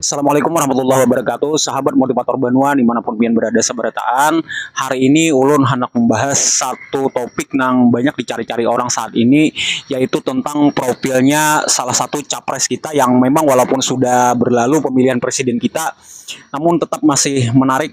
Assalamualaikum warahmatullahi wabarakatuh Sahabat motivator banua dimanapun pian berada seberataan Hari ini ulun handak membahas satu topik nang banyak dicari-cari orang saat ini Yaitu tentang profilnya salah satu capres kita yang memang walaupun sudah berlalu pemilihan presiden kita Namun tetap masih menarik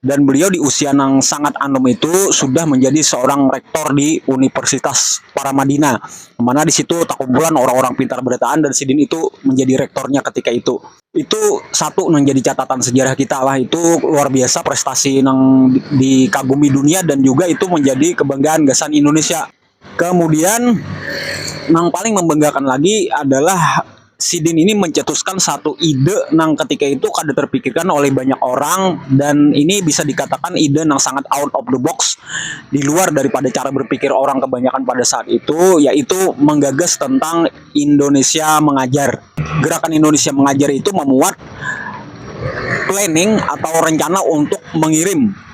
Dan beliau di usia nang sangat anum itu sudah manjadi seorang rektor di Universitas Paramadina, mana di situ takumpulan orang-orang pintar berataan dan sidin itu manjadi rektornya ketika itu. Itu satu nang jadi catatan sejarah kita lah, itu luar biasa prestasi nang dikagumi dunia dan juga itu manjadi kebanggaan gasan Indonesia. Kemudian nang paling membanggakan lagi adalah sidin ini mencetuskan satu ide nang ketika itu kada terpikirkan oleh banyak orang dan ini bisa dikatakan ide nang sangat out of the box diluar daripada cara berpikir orang kebanyakan pada saat itu yaitu menggagas tentang Indonesia Mengajar. Gerakan Indonesia Mengajar itu memuat planning atau rencana untuk mengirim.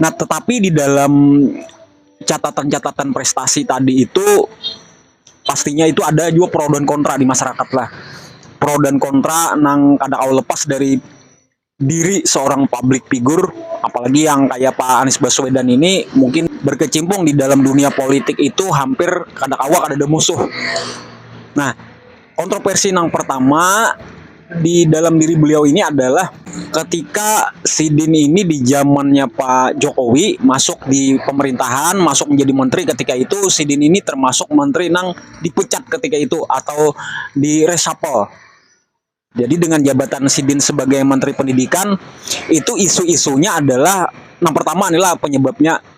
Nah, tetapi di dalam catatan-catatan prestasi tadi itu pastinya itu ada juga pro dan kontra di masyarakat lah. Pro dan kontra nang kada kawa lepas dari diri seorang publik figur apalagi yang kaya Pak Anies Baswedan ini mungkin berkecimpung di dalam dunia politik itu hampir kada kawa kadada musuh. Nah. Kontroversi nang pertama di dalam diri beliau ini adalah ketika Sidin ini di zamannya Pak Jokowi masuk di pemerintahan, masuk menjadi menteri ketika itu Sidin ini termasuk menteri nang dipecat ketika itu atau di reshuffle. Jadi dengan jabatan Sidin sebagai menteri pendidikan itu isu-isunya adalah nang pertama adalah penyebabnya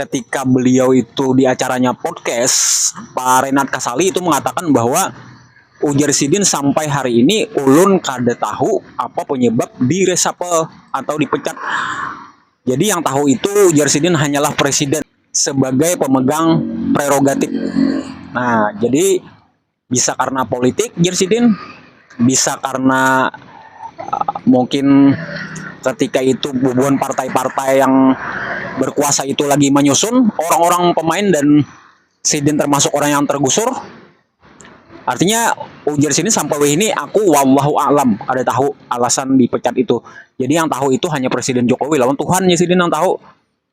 ketika beliau itu di acaranya podcast Pak Renat Kasali itu mengatakan bahwa ujar Sidin sampai hari ini ulun kada tahu apa penyebab di reshuffle atau dipecat. Jadi yang tahu itu ujar Sidin hanyalah presiden sebagai pemegang prerogatif. Nah, jadi Bisa karena politik jar sidin, bisa karena uh, mungkin ketika itu bubuhan partai-partai yang berkuasa itu lagi menyusun orang-orang pemain dan sidin termasuk orang yang tergusur. Artinya ujar sidin sampai ini aku wallahu alam kada tahu alasan dipecat itu. Jadi yang tahu itu hanya Presiden Jokowi lawan Tuhan ya sidin yang tahu.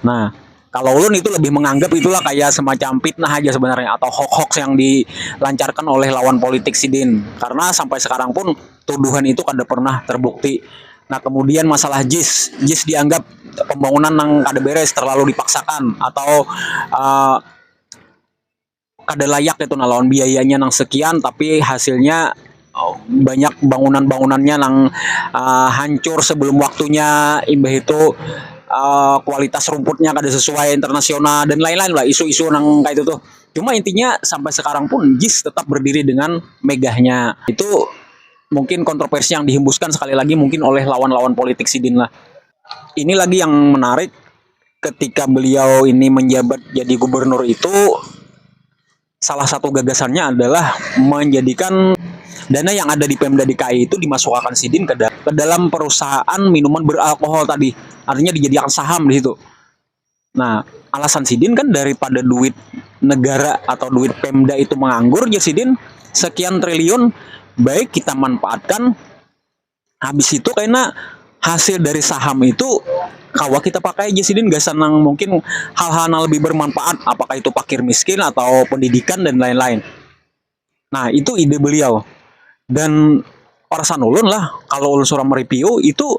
Nah, kalau ulun itu lebih menganggap itulah kayak semacam fitnah aja sebenarnya atau hoax-hoax yang dilancarkan oleh lawan politik sidin karena sampai sekarang pun tuduhan itu kada pernah terbukti nah kemudian masalah jis, jis dianggap pembangunan nang kada beres terlalu dipaksakan atau. kada layak itu nah lawan biayanya nang sekian tapi hasilnya banyak bangunan-bangunannya nang uh, hancur sebelum waktunya imbah itu uh, kualitas rumputnya kada sesuai internasional dan lain-lain lah isu-isu nang kayak itu tuh cuma intinya sampai sekarang pun JIS tetap berdiri dengan megahnya itu mungkin kontroversi yang dihembuskan sekali lagi mungkin oleh lawan-lawan politik sidin lah ini lagi yang menarik ketika beliau ini menjabat jadi gubernur itu salah satu gagasannya adalah menjadikan dana yang ada di Pemda DKI itu dimasukkan sidin ke, ke dalam perusahaan minuman beralkohol tadi. Artinya dijadikan saham di situ. Nah, alasan sidin kan daripada duit negara atau duit Pemda itu menganggur ya sidin sekian triliun baik kita manfaatkan habis itu kena hasil dari saham itu kawa kita pakai aja sidin gasan nang mungkin hal-hal nang lebih bermanfaat apakah itu pakir miskin atau pendidikan dan lain-lain nah itu ide beliau dan perasaan ulun lah kalau ulun surang mereview itu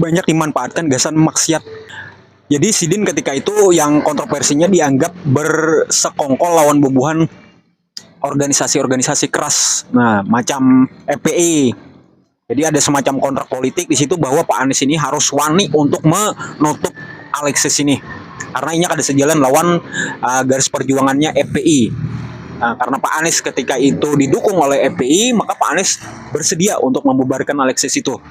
banyak dimanfaatkan gasan maksiat. Jadi sidin ketika itu yang kontroversinya dianggap bersekongkol lawan bubuhan organisasi-organisasi keras. Nah, macam FPI. Jadi ada semacam kontrak politik di situ bahwa Pak Anies ini harus wani untuk menutup Alexis ini. Karena inya kada sejalan lawan uh, garis perjuangannya FPI. Nah, karena Pak Anies ketika itu didukung oleh FPI, maka Pak Anies bersedia untuk membubarkan Alexis itu.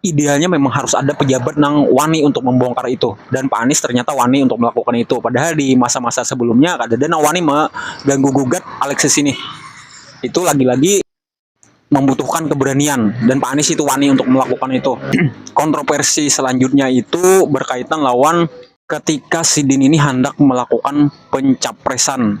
idealnya memang harus ada pejabat nang wani untuk membongkar itu dan Pak Anies ternyata wani untuk melakukan itu padahal di masa-masa sebelumnya kada ada nang wani mengganggu gugat Alexis ini itu lagi-lagi membutuhkan keberanian dan Pak Anies itu wani untuk melakukan itu kontroversi selanjutnya itu berkaitan lawan ketika sidin ini handak melakukan pencapresan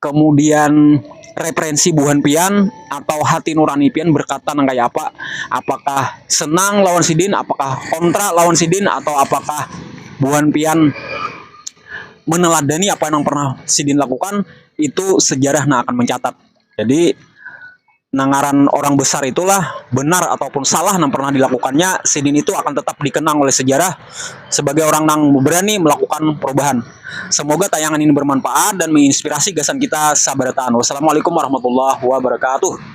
kemudian referensi buhan pian atau hati nurani pian berkata nang kaya apa apakah senang lawan sidin apakah kontra lawan sidin atau apakah buhan pian meneladani apa nang pernah sidin lakukan itu sejarah nang akan mencatat jadi. Nah ngaran orang besar itulah benar ataupun salah nang pernah dilakukannya, sidin itu akan tetap dikenang oleh sejarah sebagai orang nang berani melakukan perubahan. Semoga tayangan ini bermanfaat dan menginspirasi gasan kita sabarataan. Wassalamualaikum warahmatullahi wabarakatuh.